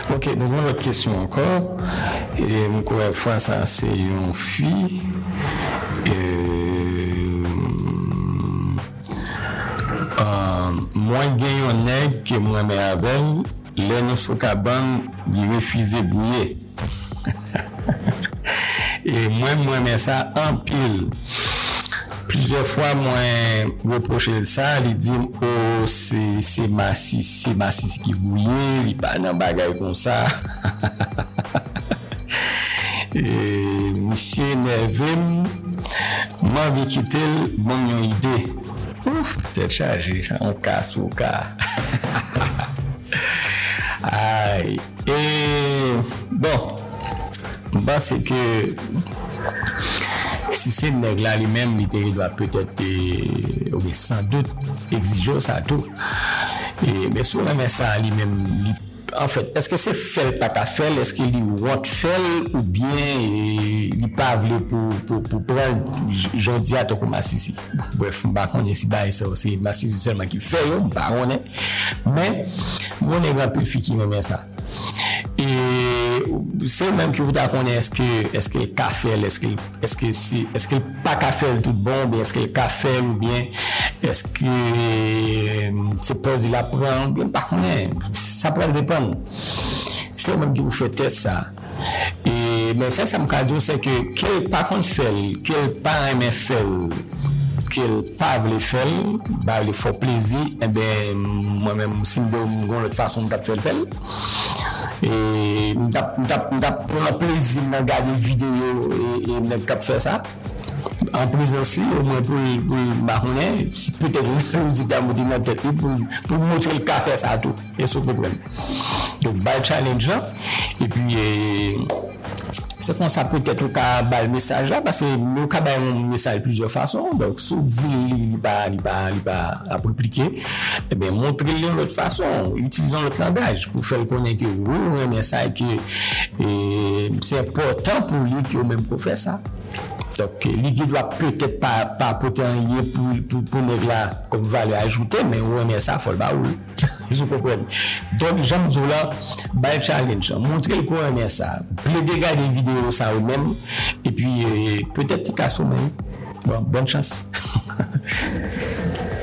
Ok nou gen yon lòt kesyon ankò e m kwè fwa sa se yon fi eeuuumm mwen gen yon nèg ke m renmen avèl lè nou sou kabann li refize gouye. E mwen m renmen sa anpil. Plizyè fwa mwen repwoche l sa, li di m oo se masisi, se masisi ki gouye, li pa nan bagay konsa. Misye nève m, m anvi kite l ban m yon ide. Ouf! Tèt chaje, sa yon ka sou ka. Ay! E bon m panse ke si se nèg la li menm li te dwa petèt te ou byen san dout egzije w sa tou. E men si w renmen sa li menm li anfèt èske se fè l pa ta fè l èske li wont fè l ou byen li pa vle pou pran l jodi a tankou masisi. Brèf, m pa konnen si bagay sa yo se masisi sèlman ki fè yo, m pa konnen. Men, m konnen gen anpil fi ki renmen sa. E se ou menm ki pou ta konnen èske èske l ka fè l, èske èske se èske l pa ka fè l toutbon oubyen èske l ka fè l oubyen èske se plèzi l ap pran oubyen m pa konnen. Sa pral depann. Se ou menm ki pou fè tès sa. E men sèl sa m ka di w se ke ke l pa konn fè l, ke l pa renmen fè l, ke l pa vle fè l, ba li fò plezi enben mwen menm si m te w m gon lòt fason m t ap fè l fè l. E m t ap m t ap m t ap pran plezi m nan gade videyo e nèg k ap fè sa an prezans li omwen pou l pou l m pa konnen petèt lojik la moute nan tèt li pou l pou l montre l ka fè sa tou. Yes ou konprann. Donk bal challenge lan epi se konsa petèt ou ka bal mesaj la paske yo ka bay yon mesaj plizyè fason donk si w di l li li pa li pa li pa ap replike enben montre l yon lòt fason itilize yon lòt langaj pou fè l konnen ke wi ou renmen sa e ke se enpòtan pou li ke ou menm ke w fè sa donk li gen dwa petèt pa pote anyen pou nèg la kòm valè ajoute men ou renmen sa fò l ba ou l. Jou konprann. Donk janm diw la, bay challenge lan. Montrel ke w renmen sa. Plede gade video sa ou menm epi petèt li ka sou menw. Bon chans.